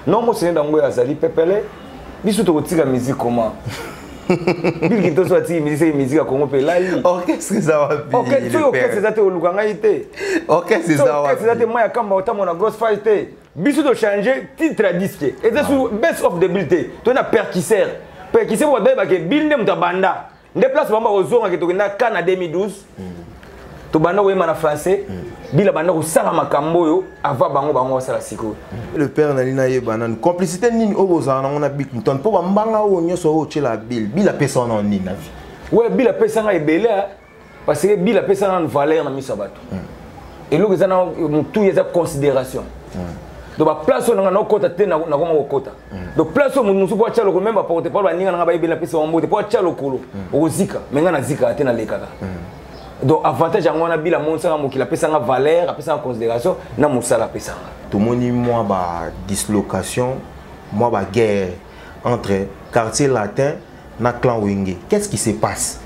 Non mosene dango azali pepele biso tokotika musique comment bilki toso atiki musicien ye musique ya congo mpe elali orchestre eza wapi soki orchestre eza te oluka ngai te orchestre eza wapi eza te mai ya kamba otamona grosse fai te biso tochange titre ya diske eza su ah. best of the bill te toye na perkisere perkisere wadayebake bill nde moto abanda nde place bango bakozongaki tokenda ka na 2012 tobanda koyemba na français bila banda kosala makambo oyo ava bango bango basala sikoyo le père nali nayeba nanu complicité nini oyo bozala nango na bic mton mpo bambanga oyo nyonso oyo otyela bile bile apesa wana nini na vie oyo bile apesa ngai ebele parce que bila apesa nanu valeur na miso ya bato eloko eza na motuya eza considération donc baplace oyo nanga nakokota te nakoma kokota donc place oyo moto mosusu mpo atya lokolo meme baporte palo baninga nanga bayebeli napesa bango mbote mpo atya lokolo okozika me ngai nazikaka te nalekaka donc avantage yango wana bila amonisaka mokili apesanga valeur apesanga considération na mosala apesanga tomoni mwa badislocation mwa baguerre entre quartier latin na clan wenge qu'est ce qui se passe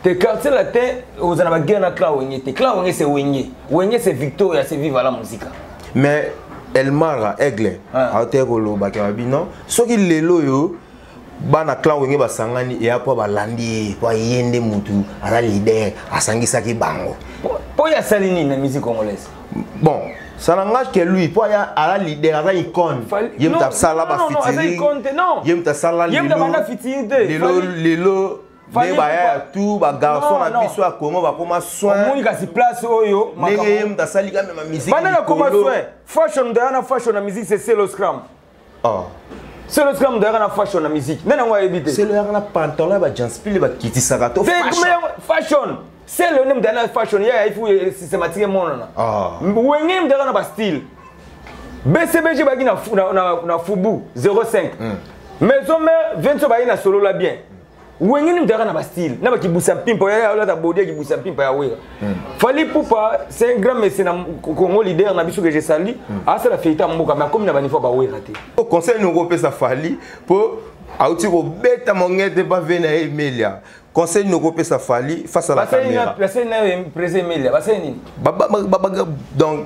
te quartier latin oza na baguerre na clan wenge te clan wenge c'est wenge wenge c'est victoria c'est viva la musica mais elmara aigle aoteye kolobaka babi non soki lelo oyo bana clan wenge basangani eya mpo balandi ye mpo aye nde motu aza lider asangisaki bango mpo ye asali nini na musique congolaise bon ça n'engage que lui mpo aya ala leader aza icone ye moto asala bafitiring ye moto asala lelo lelo nde baya ya tout bagarçon na biso ya congo bakoma soinomoni kasi place oyo ndenge ye moto asali kamema musique fashion dayana fashion na musique c'est seloscram ah selo esika moto ayaka na fashion na musique nani yango ayebi te selo ayaka na pantalon ya bajanspile bakitisaka to fashion selo nde moto ayaka na fashion ye ayebi fu eh, systématique emonana ah. wenge moto ayaka na bastyle bcbg bayaki na fubu 05 hmm. maison mare 20 so bayaki na solola bien wenge nini mutaka na bastyle na bakibusa mpimpa yaya olata bodi ya kibusa mpimpa ya wera hmm. fali pupa c'est un grand messe na congo leader na biso que je sali hmm. asala feita mboka mais akomi na banivo bawera te oh, conseil noko opesa fali mpo auti kobeta mongete mpa ve na ye emelia conseil noko opesa fali face à la caméra basali nayo prese emelia basali nini donc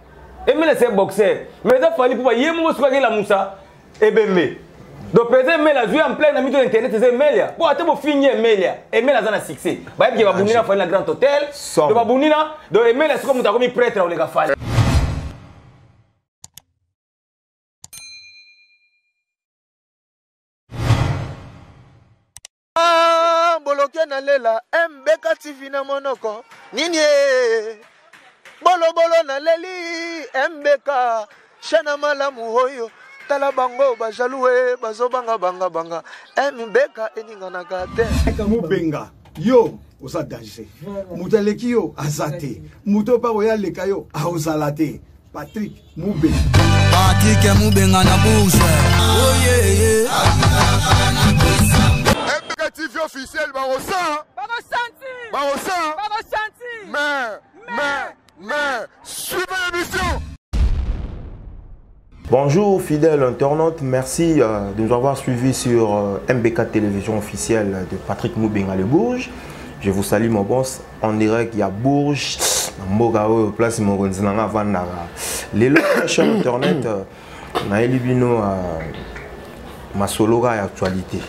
emela se boxer mais eza fali mpo baye moko soki akelamusa ebembe donc président emela azwi ampleur na mito ya internet eza emelia mpo ata bofingi emelia emela aza na succès bayebi ke babundi na fali na grand hôtel donc babundi na donc emela soki moto akomi prêtre akoleka fali Ah, boloke na lela mbeka tv na monoko nini e bolobolo na leli mbeka shana malamu oyo tala bango bajalue bazobanga banga banga mbeka eninganaka te mubenga yo oza danger moto aleki yo aza te moto oyo mpa oyo aleka yo aozala te Patrick Mube. Patrick Mubenga na bouche. Oh yeah yeah. MBK TV officiel bakosa. Bakosanti. Bakosa. Bakosanti. Mais mais mais suivez l'émission. Bonjour fidèle internaute, merci euh, de nous avoir suivis sur euh, MBK Télévision officielle de Patrick Moubenga Le Bourge. Je vous salue mon boss en direct ya bourge na mboka oyo place mokonzi na nga avandaka lelo sur internet euh, nayeli bino euh, masolo kaka ya actualité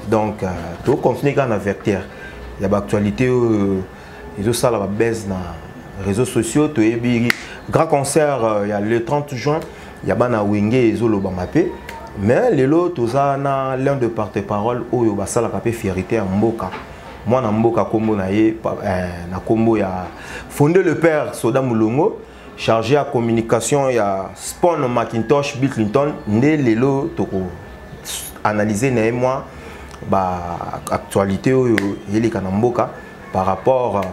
donc euh, tocontinue kaka na vecteur ya baactualité oyo ezosala babase na réseaux sociaux toyebi grand concert euh, ya le 30 juin ya bana wenge ezolobama mpe mais lelo toza na l'un de porte parole oyo basalaka mpe fierité ya mboka mwana mboka kombo na ye eh, na kombo ya fonde le père soda mulongo chargé ya communication ya spon macintosh bill clinton nde lelo toko analyse na ye mwa baactualité oyo eleka na mboka par rapport euh,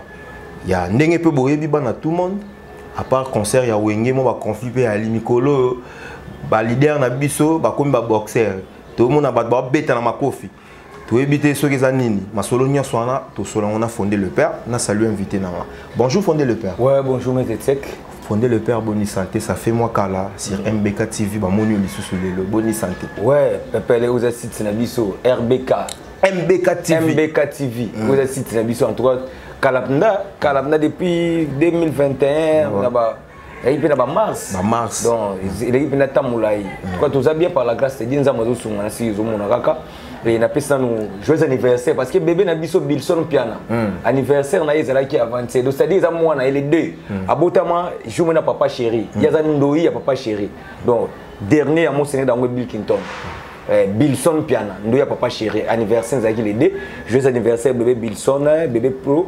ya ndenge mpe boyebi bana tout monde à part concert ya wenge mwa baconflit mpe yali mikolo oyo balider na biso bakomi baboxer tomona bato babeta na makofi toyebi te soki eza nini masolo nyonso wana tosola yango na fonde le père na salut invité na nga bonjour fonde le père ouais bonjour maître tsek fonde le père boni santé ça fait moi kala sur mbk tv bamoni yo lisusu lelo boni santé ouais pepele oza site na biso rbk mbk tv mbk tv mm. oza site na biso en tout cas kalapnda kalapnda depuis 2021 ouais. ezalaki mpe na bamars bamars donc eleki mpe natamo molai tuka toza bien par la grâce te die nzambe azosunga na siki ezomona kaka e napesi nanu joyeux anniversaire parce que bebe na biso bilson mpiana hmm. anniversaire na ye ezalaki avantier donc c'est-à-dire eza mwana ye le deux hmm. abotama jour mona papa chéri hmm. ye aza ndoi ya papa chéri donc dernier ya mosene dango bill kinton Eh, bilson piana ndo ya papa chéri anniversaire ezalaki le 2 joyeux anniversaire bebe bilson bebe pro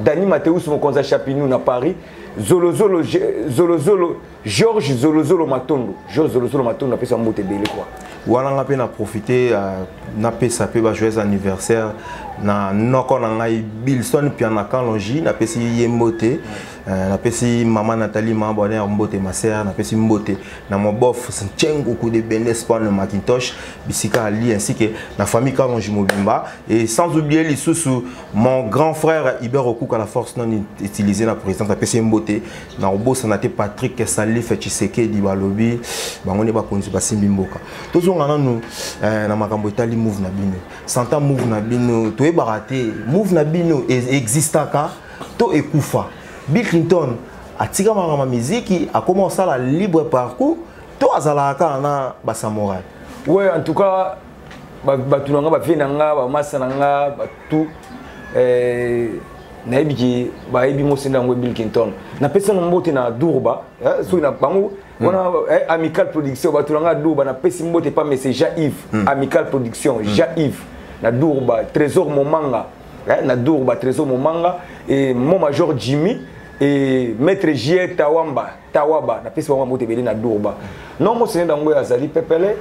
Dani Mateus mokonzi ya Chapinou na Paris zolozolo zolozolo Georges zolozolo Matondo Georges zolozolo Matondo napesa mbote ebele kwa wana nga mpe na profite uh, napesa mpe ba joyeux anniversaire na noko na ngai Bilson Piana Kalonji napesi ye mbote uh, napesi mama Nathalie ma bonne mbote ma sœur napesi mbote na mon bof Nchengu coup de Benes Spawn Macintosh bisika ali ainsi que na famille Kalonji mobimba et sans oublier lisusu mon grand frère Hubert Okuka la force non utilisée na présidence ya PCM Bote na obosana te Patrick Salif Tshisekedi balobi bango ne bakonzi basimbi mboka tozonga nanu eh, na makambo etali move na bino santa move na bino toyebaka te move na bino e-, existaka to ekufa Bill Clinton atika makambo miziki akoma kosala libre parcours to azalaka kaka na basamorai ouais en tout cas bato na nga bavie na nga bamasa na nga batout eh, nayebi ki bayebi mosenda yango bill kinton napesi yango mbote na durba eh, soki na bango hmm. wana eh, amical production bato na nga durba napesi mbote pa mese ja ive hmm. amical production hmm. ja ive na durba trésor momanga na durba trésor momanga e mo major jimmy e maître jr tawamba tawaba napesi bango mbote ebele na durba non mosene dango oyo azali pepele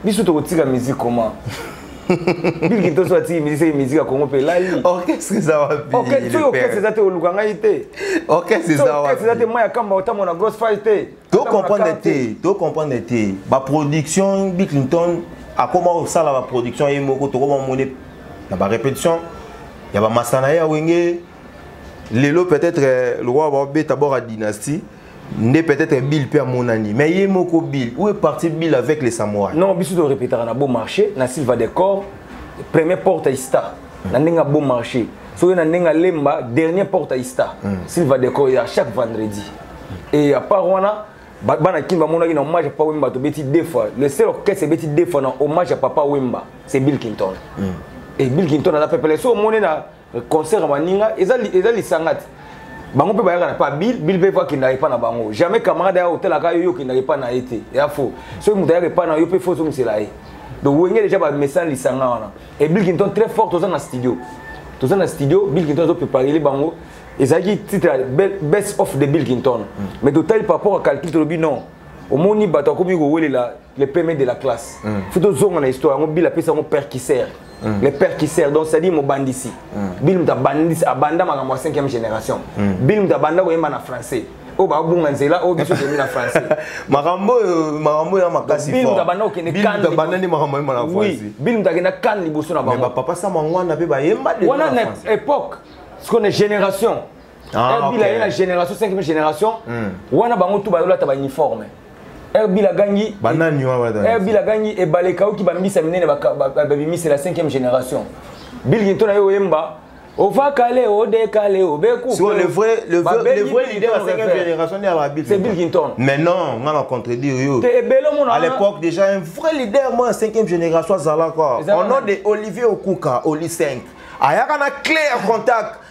biso tokotika musique comment bilki toso atiki musique seke musique ya congo mpe elali orchestre eza wapisoki orchestre eza te oluka ngai te orchestre eza wapi eza te mai ya kamba otambo na grosse fai te tocomprendre te tocomprendre te baproduction bill clinton akoma kosala baproduction ye moko tokoma mone na barépétition ya bamasta na ye ya wenge lelo peut-être euh, lokola babeta bora dynastie nde peut-être bill mpe amonani mais ye moko bill où est parti bill avec les samouraï non biso torepetaka na beau marché na silva decor premier porte ista na ndenge ya beau marché soki na ndenge alemba dernier porte ya ista hmm. silva deco ya chaque vendredi et à part wana bana kin bamonaki na hommage ya papa wemba tobeti deux fois le seul orchestre ebeti deux fois na hommage ya papa wemba c'est bill clinton mm. et bill clinton aza pepele so omoni na concert ya baninga eza, eza lisanga te bango mpe bayaka na pa bill bill mpe fo akendaka epa na bango jamais camarade aya otalaka yo yo okendaka epa na ye te ya fo soki moto ayaka epa na yo mpe fo ozongisela ye donc wenge déjà bamesana lisanga wana e bill kinton très fort toza na studio toza na studio bill kinton azopreparele bango ezalaki titre ya best of the bill kinton mm. mais totali par rapport ya calcul tolobi non omoni bato akomi kowelela le pme de la classe mm. fo tozonga na histoire yango bill apesa yango perkiser Mm. le père kisser donc c'est-à-dire mobandisi mm. bill mutu abandisi abanda makambo ya 5e génération mm. bill mutu abanda koyemba na français oyo babunga nzela oyo biso toyebi na français makambo oyo makambo oyo ya makasi bill mutu abanda kokende kan abanda nde makambo ayemba na français bill mutu akenda kan liboso na bango bapapa sama ngwana mpe bayemba wana na époque sikona génération Ah, Erbila okay. ye na génération 5 génération mm. wana bango tout bayolata ba uniforme Erbila gangi banani wana wana Erbila gangi ebale kauki ba mbisa minene ba bimisa la 5e génération Bill Ginton na yo yemba Ova kale o de kale o be coupe. Sur le vrai le vrai le vrai leader de la 5e génération n'est pas Bill. C'est Bill Ginton. Mais non, on a contredit yo. T'es bello mon À l'époque déjà un vrai leader moi 5e génération Zalaka. Au nom de Olivier Okuka, Oli 5. Ayaka na clé en contact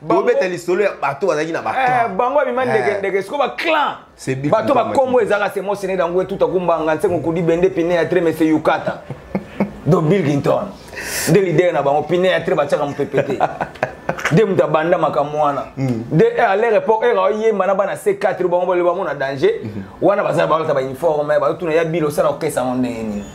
bobeta lisolo ya bato bazalaki na eh, bango abima ndekendeke eh. siko baclan bato bakombo ezalaka semosene dangue tuta kumbanga nsengo kudi bende pine ya tremese yukata do bilgington nde lidere na bango pine ya tre batiaka mopepe te nde moto abanda makambo wana mm. nde eh, à leur époque eka oyemba na bana c4 bango bamona danger mm-hmm. wana bazala balata bauniforme bazotuna ya bilo osala okesa yango ndenge nini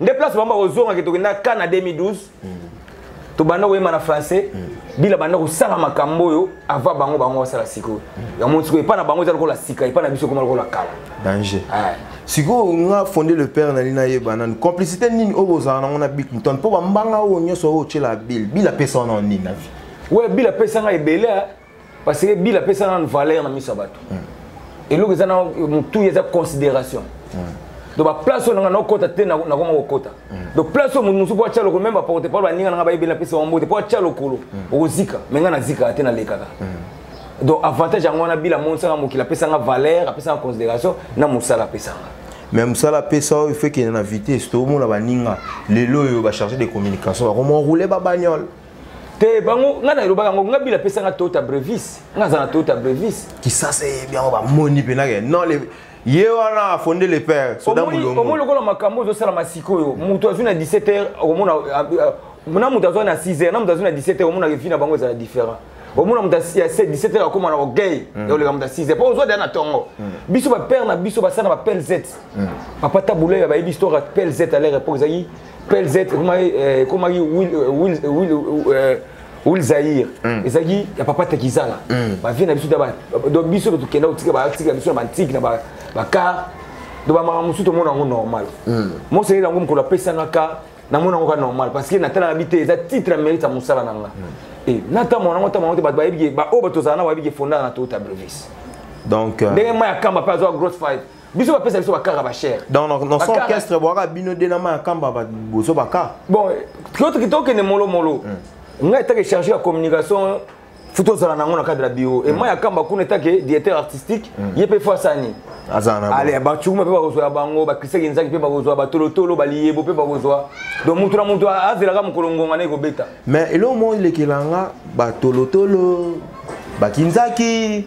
nde place bango bakozonga ke tokenda ka na 2012 tobanda koyemba na français bila banda kosala makambo oyo ava bango bango basala sikoyo yango sikoyo epai na bango eza lokola sika epai na biso ekoma lokola kala danger sikoyo nga fonde le père nali nayeba nanu complicité nini oyo bozala nango na bik mton mpo bambanga oyo nyonso oyo otyela bile bile apesa wana nini na vie we bile apesa ngai ebele parce que bila apesa nanu valeur na miso ya bato mm. eloko eza na motuya eza considération mm. donc baplace oyo nanga nakokota te nakoma kokota mm. donc place oyo moto mosusu mpo atya lokolo meme baporte pole baninga nanga bayebeli napesa bango mbote mpo atya lokolo okozika me ngai nazikaka te nalekaka donc avantage yango wana bila amonisaka mokili apesanga valeur apesanga considération na mosala apesanga me mosala apesa oyo fekende na vitesse toomona baninga lelo oyo bacharge de communication bakomonroule babagnole te bango ngai nalobaka yango ngai bila apesanga toyota brevis ngai aza na toyota brevis kisasa eyebi yango bamoni mpenake non ye wana afonde le père soda mulongo omoni lokola makambo ozosalama sikoyo moto azwi na 17 heures okomona ah, ah, na moto azwa na 6 heures na moto azwi na 17 heures omona vie na bango ezala différent omona moto ya 17 heures akoma na orgueil mm. oleka moto ya 6 heures mpo ozwa deya na ntongo mm. biso bapère na biso basala na bapelz mm. papa tabulaya bayebi histoire ya pelz à leur époque ezalaki plz ekomaki wil zaire ezalaki ya papa tekizala bavie na biso donc biso tokenda kotika batika biso na bantike na bacar donc bamaka mosusu tomona yango normal mosengeli yango mokolo apesanga car namona yango ka normal parce que natalaka bi te eza titre ya mérite ya mosala na nga natambo nango ntambo yango te bato bayebi baoyo bato ozala na bayebi ke fondaka na toyota brevis donc ndenge ma ya kamba mpe azwa grosse five biso bapesa biso bakara bachere donc na son orchestre bwaka bino de na ma ya kamba bozo baka bon tokende molomolo hmm. ngai etake charge ya communication futi ozala nango na cadre ya bio e mai akamba kuna etake directeur artistique mm. ye mpe fo asani ale bacukuma mpe bakozwa ya bango bakrisaki nzaki mpe bakozwa batolotolo baliyebo mpe bakozwa donc motu na motu azelaka mokolo ngonga na ekobeta mais eloko moko elekela nga batolotolo bakinzaki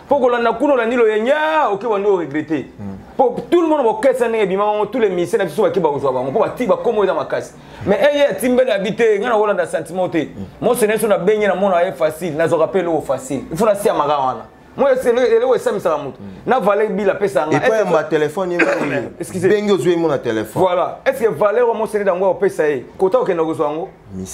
mpo kolanda kuna olandi loyenge oke bandi oregrete mpo hmm. tout le monde bokesa ndenge ebima bango tous les ministère na biso bake bakozwa bango mpo bati bakomo eza makasi mais eye atimbeli abi te ngai nakolanda sentiment te hmm. monso na biso nabengi na mona ye facile nazwaka mpe eloko facile ifo nasiya maka wana moi eloko esamisaka moto hmm. na valeur bila apesa ngaepoyamba telefone bengi ozwi ye mona telefone voilà est ce que valeur wa mosene yango opesa ye kota okenda kozwa yango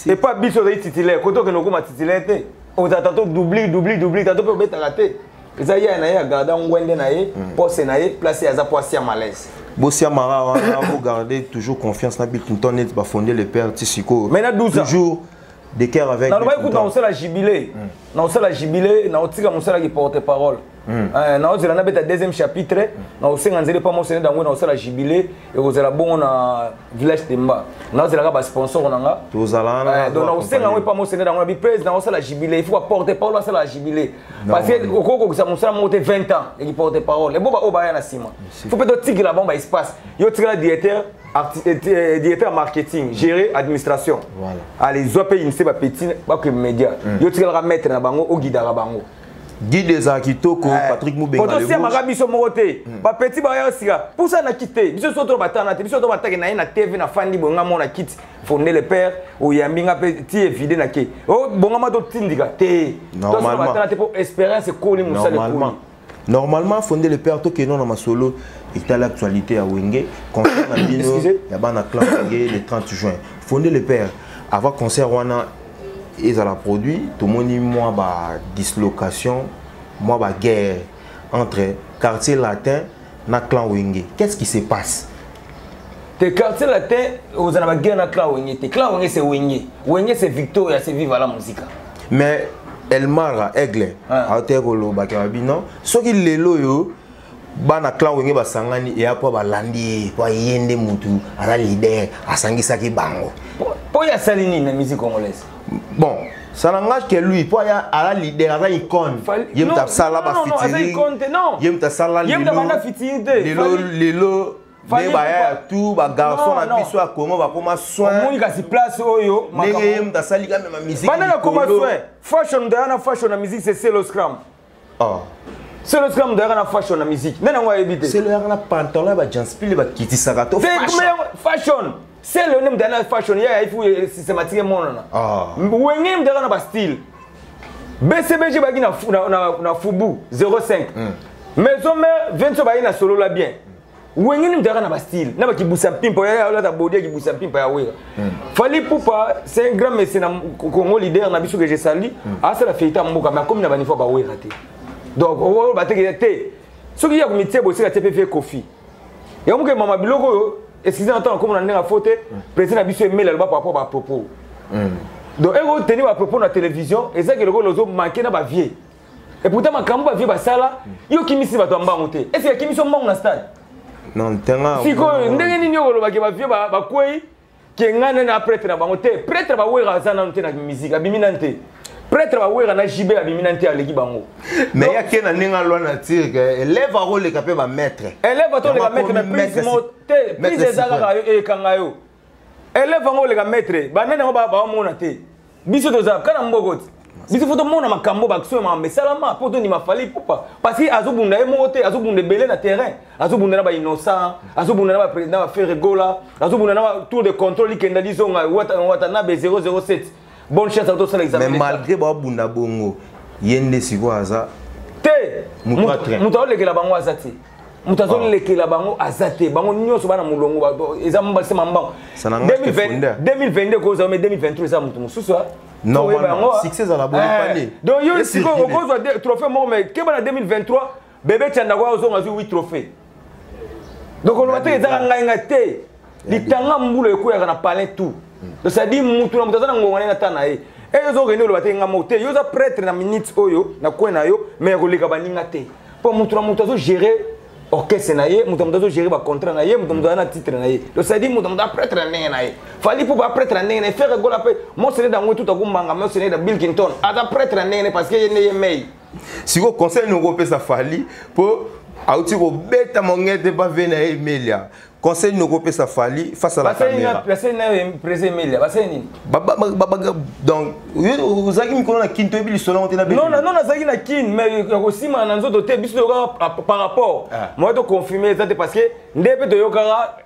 Et pas biso ozali titulaire kote okende okoma titulaire te ozala tato doubli doubli doubli tato mpe obetaka te eza ye na ye agarda ngwende na ye hmm. pose na ye place ye aza mpo asia malaise bosiamaka wana bogarde toujours confiance na bikinton neti bafonde le père ti sikoyo mais na 12 toujours de cœur avec nalobaki kuta naosala jubile naosala jubile naotika mosalaki porte parole Hmm. Eh, naozela nabeta deuxième chapitre hmm. naosenga nzela epa mosene dango naosala jubile ekozala bongo na village temba naozelaka basponsor na nga eh, donc naosenga yango epa mosene dango na bipres naosala jubile ifo baporte parole asala jubile parce que okoki kokokisa mosala moko te 20 ans eki porte parole ebo baoyo baya na nsima fo mpe totikela bango baespace yo tikala directeur eh, directeur marketing gérer administration allez zwa mpe inise bapeti bakoki média hmm. yo tikalaka maître na bango ogidaka bango guide ezala kitoko eh, patrik mubengaosiamaka biso moko te hmm. bapeti baya sika pusa na kiti te biso so to batana te biso to batake na ye na tv na fandi boye nga mona kiti fonde le père oyambi nga mpe ti evide na ke oh, bongama totindika te tobatana te mpo espérance ekoli mosala ekoli normalement fonde le père tokeno na masolo etali actualité ya wenge concert na bino ya bana clan wenge le 30 juin fonde le père avant concert wana ezala produit tomoni mwa ba dislocation mwa ba guerre entre quartier latin na clan wenge qu'est-ce qui se passe te quartier latin ozala ba guerre na clan wenge te clan wenge c'est wenge wenge c'est victoria c'est viva la musica mais elmara aigle ah. aoteye kolobaka babi non soki lelo oyo bana clan wenge basangani eya mpo balandi ye mpo ye nde motu aza lider asangisaki bango mpo ye asali nini na musique congolaise bon ça n'engage que lui mpo aya ala lider aza icone ye moto asala bafitiring ye moto asala lelo lelo nde baya ya tu bagarçon na biso ya congo bakoma soinmoni kasi place oyo ndenge ye moto asali kamema musique fashion dayana fashion na musique c'est seloscram ah selo esika moto ayaka na fashion na musique nani yango ayebi te selo ayaka na pantalon ya bajanspile bakitisaka to fashion selo nde moto ayaka na fashion ye ayebi fu eh, systématique emonana ah. wenge moto ayaka na bastyle bcbg bayaki na fubu 05 hmm. maison mare 20 so bayaki na solola bien wenge nini mutaka na bastyle na bakibusa mpimpa oyo olata bodi ya kibusa mpimpa ya wera hmm. fali pupa c'est un grand messe na congo leader na biso que je sali hmm. asala feita mboka mais akomi na banivo ya bawera te donc oyo batekele te soki ya komitie bosika te mpe fe kofi yango moke mama biloko oyo excuse na ntango akomi na ndenge afo te hmm. président na biso emeli aloba par rapport bapropos donc eko teni bapropos na télévision ezaki lokola ozo manke na bavieux Et pourtant makambo ba vie basala yo kimisi bato mbango te. Est-ce que kimisi mbango na stade? Non, tanga. Siko ndenge nini yo lobaki ba vie ba kwei ke ngana na prêtre na bango te. Prêtre ba wera azana nte na musique abimi na nte. prêtre bawera na jibe abimi na nte aleki bango mais ya ke na ndenge alwa na tire ke elève akoleka mpe bamaître elève atoleka maître mais prise mo te prise eza kaka yo ekanga yo eleve yango oleka maitre banani yango bamona te biso toza kana mboko ti biso fo tomona makambo baction ya mesalama mpo tondima fali pupa parce que azobunda ye moko te azobunda ebele na terrain azobunda na bainnocent azobunda na baprésident baferre gola azobunda na tour de contrôle ikenda lizonga watanabe 007 bonne chance à tosala examen mais malgré ba bunda bongo yende siko aza te mutu atre mutu olekela bango aza te mutu azolekela bango aza te bango nyonso bana molongo eza mbase mambango 2022 kozala me 2023 eza mutu mosusu normalement succès ezala boye pale donc yo siko okozwa trophée moko mais keba na 2023 bebe canda kwa ozonga azwi 8 trophée donc oloba te ezaka ngai ngai te litanga mbula ekweyaka na palin tout donc cetadi mutu na moto aza na ngonga nde nata na ye e eh, ozokende oloba te ngai moko te yo oza prêtre na minute oyo na kwe na yo mai ya koleka baninga te mpo motu na motu azogere orchestre na ye moto moto azogere bacontrat na ye moto moto aza na titre na ye donc cetadi moto moto apretre na ndenge na ye fali mpo baapretre na ndenge na ye fere gola mpe moseneda yango etuta kumbanga moseneda bill kinton aza pretre na ndenge na ye parce que ye nde ye mei siko conseil noko opesa fali po auti kobeta mongete pa ve na ye emelia conseil noko opesa fali face à la caméra basali nayo empresa emelia basali nini donc ozalaki mikolo na kin toyebi lisolo yango te na non non nazalaki na kin mais ya kosimana na nzoto te biso toyokaka par rapport ah. moye toconfirme eza te parce que nde mpe toyokaka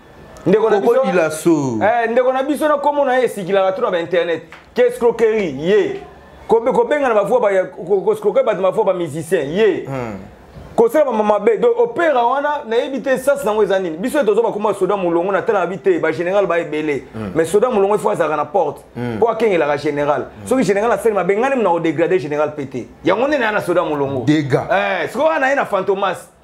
ndeko na biso dilaso eh ndeko na biso na komo na esikilaka to na ba internet qu'est-ce croquerie ye kobenga na bavua ko scroquer ba mavua ba musicien ye hmm. kosala mama mabe donc opera wana nayebi te sasi nango eza nini biso tozo bakoma soda molongo na tala bi te bagénéral ba ebele hmm. mais soda molongo ifo azalaka na porte hmm. mpo akengelaka général hmm. soki général asali mabe ngani mna kodegrade général mpe te yango nde na ya na soda molongo eh, sikoyo wana ye na fantomas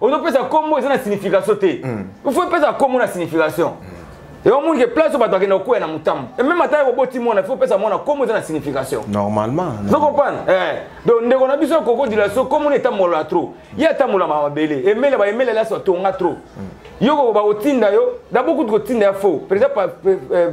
ozopesa kombo eza na signification te hmm. il faut epesa kombo na signification hmm. yango omoni ke place oyo bato akenda kokwea na motambo ememe ata koboti mwana il faut opesa mwana kombo eza na signification normalement zokopana eh. donc ndeko na biso koko dilaso kombo na etambola trop ye atambolama mabele emele baemele laso atonga trop hmm. yo koko bakotinda yo dabord kutu kotinda ya faux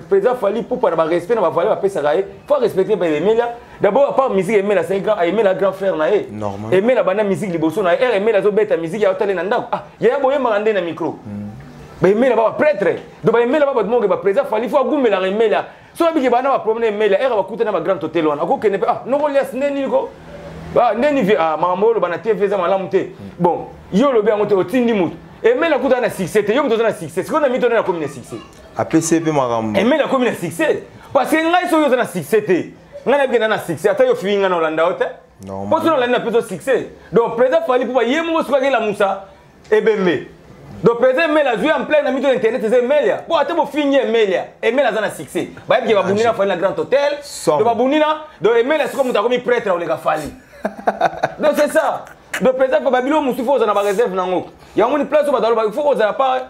président fali pupa na barespect na bavale bapesaka ye faut arespecte baemelia D'abord, à part musique, Aimé la grand, Aimé la grand frère naé. Normal. Aimé la bande musique liboso naé. Er Aimé la zo bête musique ya otale na ndako. Ah, ya boye marande na micro. Hmm. Ba Aimé la ba prêtre. Donc ba Aimé la ba monge ba président fali faut goume la Aimé la. So ba biki ba na ba problème Aimé la. Er ba kuta na ba grand hôtel wana. Ko kene ah, no ko lias neni ko. Ba neni vi ah mambo lo bana TV za malamu te. Hmm. Bon, yo lo bi ango te otindi mutu. Aimé la kuta na succès te. Yo mutu na succès. Siko na mito na commune succès. apesi mpe makambo emeli akomi na succès parce que ngai soki oza na succès te ngai nayebi kenda na succès ata yo fii ngai na olanda yo te mpo soki olandi na mpe ozo succès donc président fali mpupa ye moko soki akelamusa ebembe donc président emeli azwi ampleur na mito internet eza emelia mpo ata bofingi emelia emeli aza na succès bayebi ke babundi na fali na grand hôtel donc babundi na donc emeli asiko moto akomi prêtre oleka fali donc c'est ça donc président fali babilo mosusu fo ozala na bareserve na yango yango ni place oyo bato alobaki fo kozala pa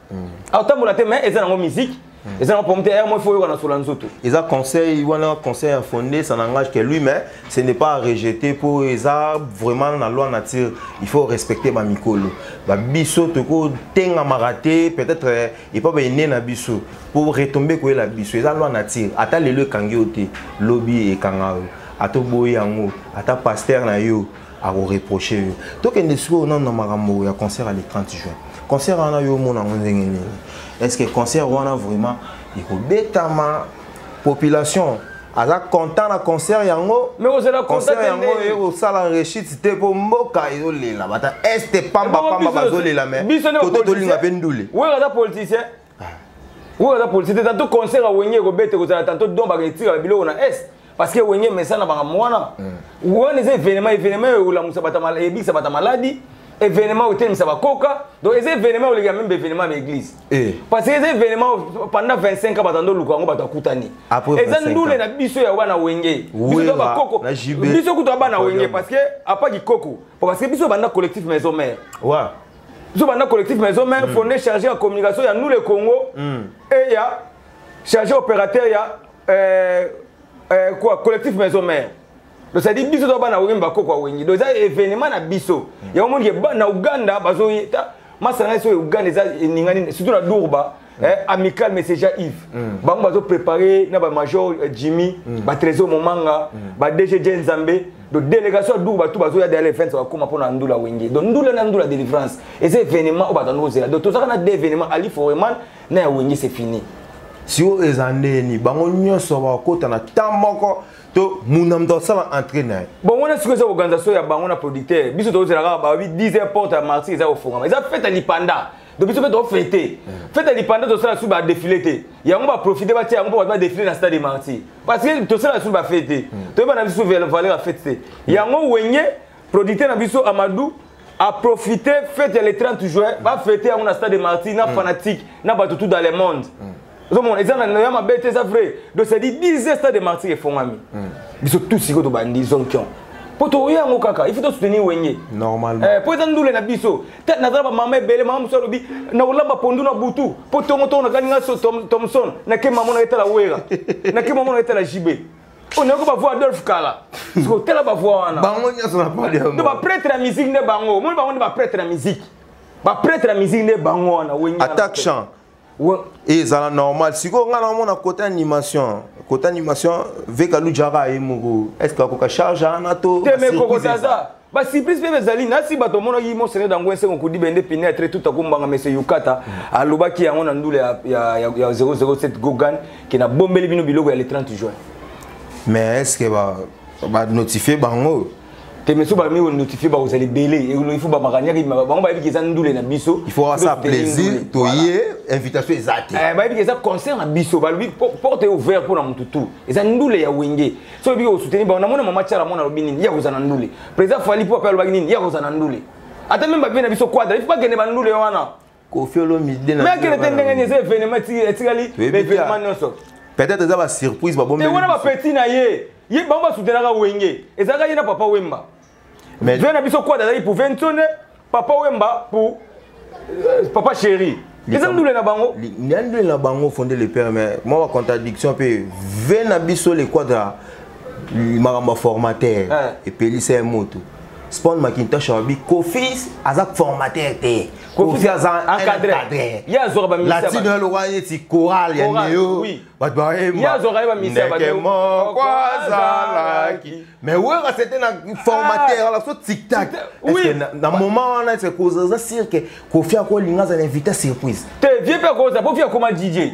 aotambola te mais eza nango musique eza na pomte ya moko oyoka na sola nzoto eza conseil wana conseil ya fondé ça n'engage que lui mais ce n'est pas à rejeter mpo eza vraiment na loi nature il faut respecter bamikolo babiso tokotengamaka te peut-être euh, epa baene na biso mpo retombe koyela biso eza loi nature ata lelo ekangi yo te lobi ekanga yo ata oboyi yango ata paster na yo ako reprocher yo tokende sikoyo nanu na makambo ya concert ya le 30 juin concert wana yo omona yango ndenge nini est ce que concert wana vraiment ekobetama population aza content na concert yango concert yango ekosala rechite te mpo mboka ezolela bata este pambapamba bazolela me koto tolinga mpe ndule oyo aza polisi te tanto concert ya wenge ekobete kozala tanto don baketika biloko na est parce que wenge mesana makambo wana mm. wana eza événement événement oyo ekolamusa ebikisa bata maladi événement oyo etelemisa bakoka donc eza événement oyo oleka meme événement ya baeglise eh. parce que eza événement pendant 25 ans bato ando luka yango bato akutani eza ndule na biso ya wana wenge biso to bakoko biso kutu abana wenge parce que apa kikoko parce que biso banda collectif maison mère biso banda collectif maison mère mm. fondé chargé ya communication ya nous le congo mm. et ya chargé opérateur ya euh, euh, quoi collectif maison mère donc ça dit biso to bana wengi bakoko wengi donc eza événement na biso mm. yango omoni ke na uganda bazoyeta masanga esoyo uganda eza eningani surtout na durba mm. eh, amical messenger yves mm. bango bazoprépare na bamajor eh, jimmy mm. batrésor momanga mm. badg je nzambe donc délégation ya duku bato bazoya dale fence bakóma mpo na ndula wenge donc ndula na ndula délivrance eza événement oyo batandi kozela donc tozalaka na de événement ali foreman na ya wenge c'est fini sio eza ndeni bango nyonso bakokota na temps moko to muna moto asala entré na ye bongo na sikoyo eza organisation ya bango na producteur biso tozela kaka babi 10 heures porte ya marti eza kofongama eza fete ya lipanda donc biso mpe tofete fete lipanda tosala lisusu badefile te yango baprofite batya yango mpo bato badefile na stade martyr parce que tosala lisusu bafete te hmm. toyeba na biso valeur ya fete te hmm. yango wenge producteur na biso amadou aprofite fete ya le 30 juin bafete yango na stade martyr na hmm. fanatique na bato tout dans le monde ozomona eza na ya mabe te eza vrai donc ça dit 10 heures stade de martyr efongami hmm. biso tout sikoyo tobandi zonkion mpo tokoya yango kaka il faut tosoutenir wenge normalement eh, mpo eza ndule na biso te nazala bamama ebele mama mosusu alobi nakolamba pondu na butu mpo tongo tongo nakani nga thomson nake mama na etala wera nake mama na etala jibe oyo nayoki bavoi adolphe kala sikoyo tela bavoi wana bango nyonso na pali yango nde bapretre ya miziki nde bango omoni bango nde bapretre ya miziki bapretre ya miziki nde bango wana wenge attaque champ ezala normal sikoyo ngai namona kota animation kota animation veka lujaka ye moko estce akoka charge ana to basurprise mpe ezali nasi bato omonaki mosene dango esengo kudi bende pinetre tout akombanga mese yukata mm. alobaki yango na ndule ya 007 gogan ke nabombeli bino biloko ya le 30 juin mais est ce que ba notifier bango te mais soki bamemi konotifie bakozala ebele il faut bamakaniaki bango bayebi ke eza ndule na biso il faut asa plaisir toye invitation eza te eh, bayebi ke eza concert na biso balobi porte ouvert mpo na motu tout eza ndule ya wenge soki oyebi kosoutenir bango namona mama tiala mwana alobi nini ye akozala na ndule président fali mpo ape alobaki nini ye akozala na ndule ata meme babe na biso quadra il faut bakende bandule wana Kofi Olomide na. Mais akele te ndenge ni eza événement ti etikali événement nionso. Peut-être eza ba surprise ba bombe. Te wana ba petit na ye. Ye bango ba soutenaka Wenge. Ezaka ye na papa Wemba. Mais vient na biso quoi d'ailleurs pour Ventone, papa Wemba pour euh, papa chéri. eza ndule na bango ya ndule na bango fonde le père mais mwa bacontradiction mpe ve na biso le quadra makambo ya formateur epelisa ye moto spawn macintosh alobi kofis aza formateur te kofi aza encadre ye azwaka balatino ya lokola neti coral ya neo bato baemandeke moko azalaki mais wera sete na formateur ah. ala so tiktak na moment wana ese koza sirke kofi akolinga azala invité surprise te vie mpe akoza po fi akoma dj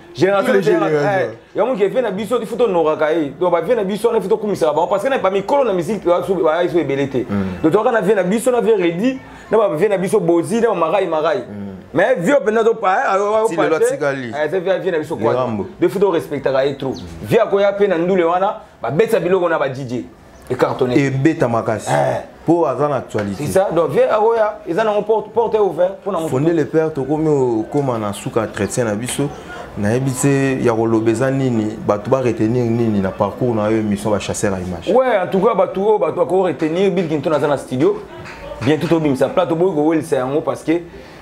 génération Tous les générations. générations. Eh, yango ke vie na biso il faut tonoraka ye donc bavie na biso wana il faut tokumisaka bango parce que na bamikolo na miziki baye so ebele te donc toyaka na vie na biso na vie redi na bavie na biso bozi na bamarai marai mais vie oyo mpenza Ti lelo atikali. vie na biso Lirambo. de faut torespectaka ye trop vie akoya mpe na ndule wana babetisa biloko na badidie ecartonné ebeta makasi eh. po aza na actualité c'est ça donc vieux akoya eza nango porte porte ouvert pona moto fonde le père tokomi okoma na suka entretien na biso nayebi te ya koloba eza nini bato ba retenir nini na parcours na yo émission ba chasseur ya image ouais en tout cas bato oyo bato bako retenir bill kinton aza na studio bientôt tobimisa plat toboyi kowelisa yango parce que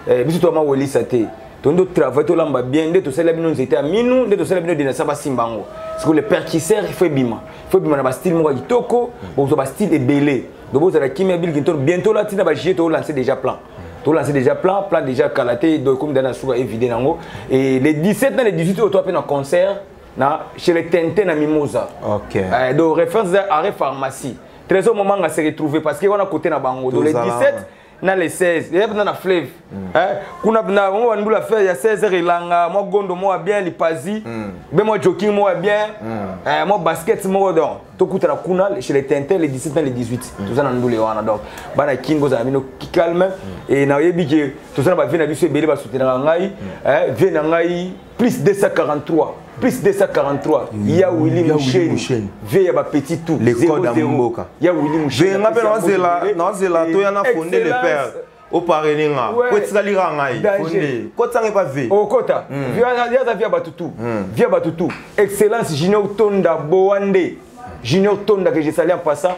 eh, biso toyama welisa te tondo travail tolamba bien nde tosala bino nzete ya minu nde tosala bino denasa basimba yango sikoyo le percusseur ifo ebima ifo ebima na bastyle moko ya kitoko bokozwa bastyle ebele donc bozala kimia bilkinto bientôt lati na bagie toolance déjà plan tolanse déjà plan plan déjà kala te donc ekomi dana suka evide nango et le 17 na le 18 oyo toape na concert na chez le tente na mimosa okay. euh, donc référence arrêt pharmacie trésor momanga se retrouver parce que wana côté na bango donc le 17 na le 16 ye bna na fleuve mm. eh, kuna bna bango bani bula fleuve ya 16 heure elanga mwa gondo moko ya bien lipazi mm. be mwa joking moko ya bien mm. eh, mwa basket moko donc tokutana kuna chez le tintin le 17 na le 18 mm. toza na ndule wana donc bana kin bozala bino calme mm. e nayebi ke toza na bavie na biso ebele basutenaka ngai mm. eh, vie na ngai plus 243 plus 243 ya Willy Moucheni vie ya ba petit tout les codes ya mboka ya Willy Moucheni nga pe na zela na zela to ya na fonder le père oparene nga po etikali kaka ngai fonde kotanga epa ve okota hmm. yaza via bato tu hmm. via bato tu excellence junior tonda boande junior tonda que je sali en passant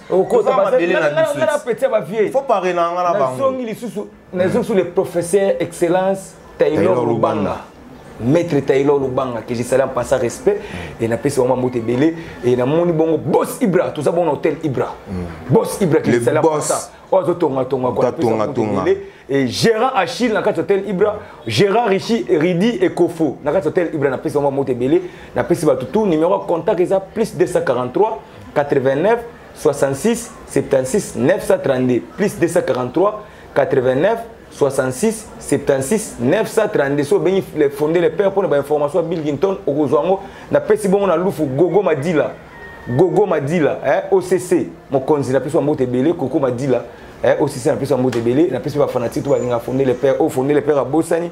okoza mabele na biso nga na petit ba vieux faut parler na nga na bango nazongi lisusu nazongi lisusu le professeur excellence Taylor Lubanga maître Taylor Lubanga que je salue en passant respect et na pesi vraiment mbote belé et na moni bongo boss Ibra tout ça bon hôtel Ibra mm. boss Ibra que je salue en passant ozo tonga tonga quoi tonga tonga et gérant Achille na kati hôtel Ibra gérant Rishi Ridi et Kofo na kati hôtel Ibra na pesi vraiment mbote belé na pesi ba tout numéro contact eza plus 243 89 66 76 932 plus 243 89 66 76 932 so obengi le fonde le père mpona bainformation ya bilgington okozwa yango napesi bongo na lufu gogo madila gogo madila eh, occ mokonzi na biso ya mbote ebele koko madila eh, occ na biso ya mbote ebele na biso bafanatike to balinga fonde le père oyo fonde le père abosani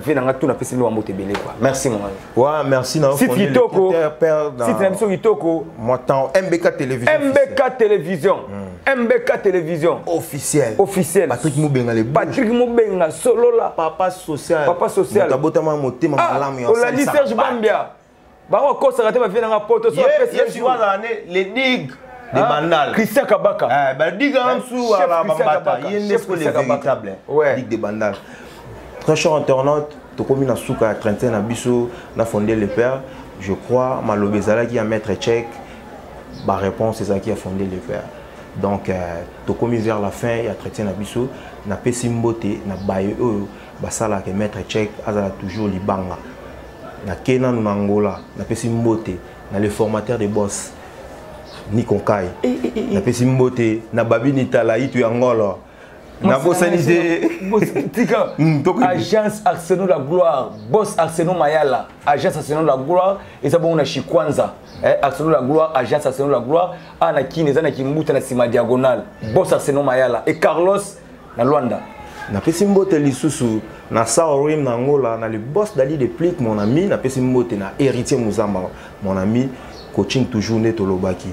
vie na nga tout na pesi bino mbote ebele quoi merci mon ami wa merci na site kitoko site na biso kitoko moi temps MBK télévision MBK télévision hmm. MBK télévision officiel officiel Patrick Mubenga le Patrick Mubenga solola papa social papa social tabotama motema ah, malamu ya olandi Serge Bambia bango kosaka te bavie na nga poto so apesi ye jour azala ne le dig de ah, bandal Christian Kabaka eh ba dig en dessous eh, ala bambata ye ne ko le véritable dig de bandal très cher internaute tokomi na suka ya 31 na biso na fondé le père je crois maloba ezalaki ya maître tchèque ba réponse ezalaki ya fondé le père donc euh, tokomi vers la fin ya traité na biso napesi mbote na baye oyo basalaka maître tchèque azala toujours libanga na ke nanu na angola napesi mbote na le formateur de boss nikonkai eh, eh, eh, napesi mbote na babini tala itu ya ngolo nabosani te hmm, agence arsenal la gloire boss arsenal mayala agence arsenal la gloire eza bongo na chikwanza eh, arsenal la gloire agence arsenal la gloire awa ah, na kini eza na kimbuta na nsima diagonale hmm. boss arsenal mayala e carlos na Luanda. Napesi mbote lisusu na Saurim na Angola na le boss Dali de Plick mon ami napesi mbote na Héritier Muzamba mon ami coaching toujours nde tolobaki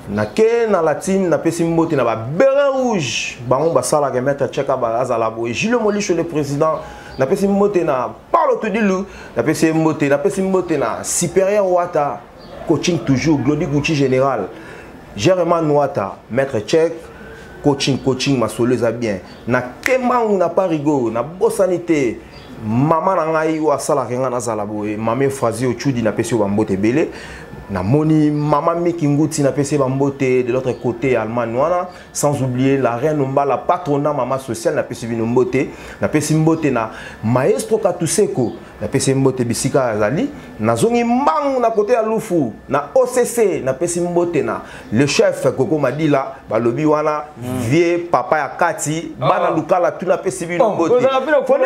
nake na latine napesi mbote na babere rouge bango basalaka maître cheka azala boye jules molisho le président napesi mbote na paulo tudilu napesi ye mbote napesi mbote na supérieur wata coaching toujours glodi gucci général gerema nwata maître tchek coaching coaching masolo eza bien na kemangu na parigo nabosani te mama na ngai oyo asalaka ngai nazala boye mama efrazi ochudi napesi yo bambote ebele namoni mama miki nguti napesi ye bambote de l'autre côté allemagne wana sans oublier la reine ombala patrona mama sociale napesi bino mbote napesi mbote na maestro katuseko napesi ye mbote bisika azali nazongi mbangu na kote ya lufu na occ napesi mbote na le chef koko madila balobi wana mm. vie papa ya kati oh. bana lukala tu napesi bino oh, mbotekoko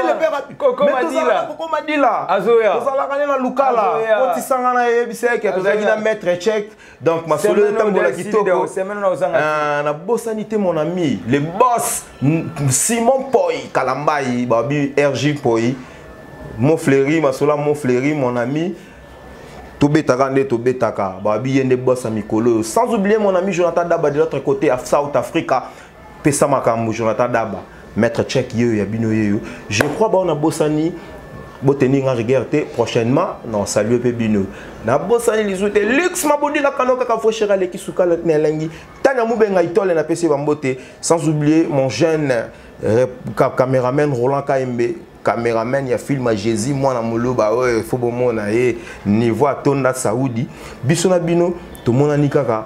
madila tozalaka nde na lukala kotisanga na yebisa eke tozalaki na maître chek donc masolo etambola kitoko ah, nabosani te mon ami le boss simon poi kalambai babi rg poi mofleri masolo ya mofleri mon ami tobetaka nde tobetaka babi ye nde boss ya mikolo oyo sans oublier mon ami jonathan daba de l'autre côté ya south africa pesa makambo jonathan daba maître check yeyo ya bino yeyo je crois bao nabosani boteni nga rigueur te prochainement na salue mpe bino nabosani lisu te lux mabodila kano kaka fresher aleki sukala na elengi tania mubenga itole napesi bambote sans oublier mon jeune euh, cameraman roland kaembe cameraman ya film ya jésus mwana moluba oyo fo bomona ye niveau atonda saudi biso na bino tomonani kaka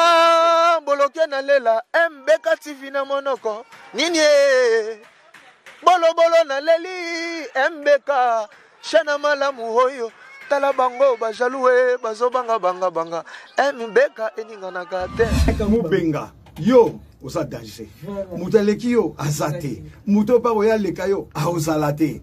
Ah, boloke na lela mbeka tv na monoko nini e bolobolo na leli mbeka shana malamu oyo tala bango bajalue bazobanga banga banga mbeka eninganaka te mubenga yo oza danger moto aleki yo aza te moto oyo mpako ye aleka yo aozala te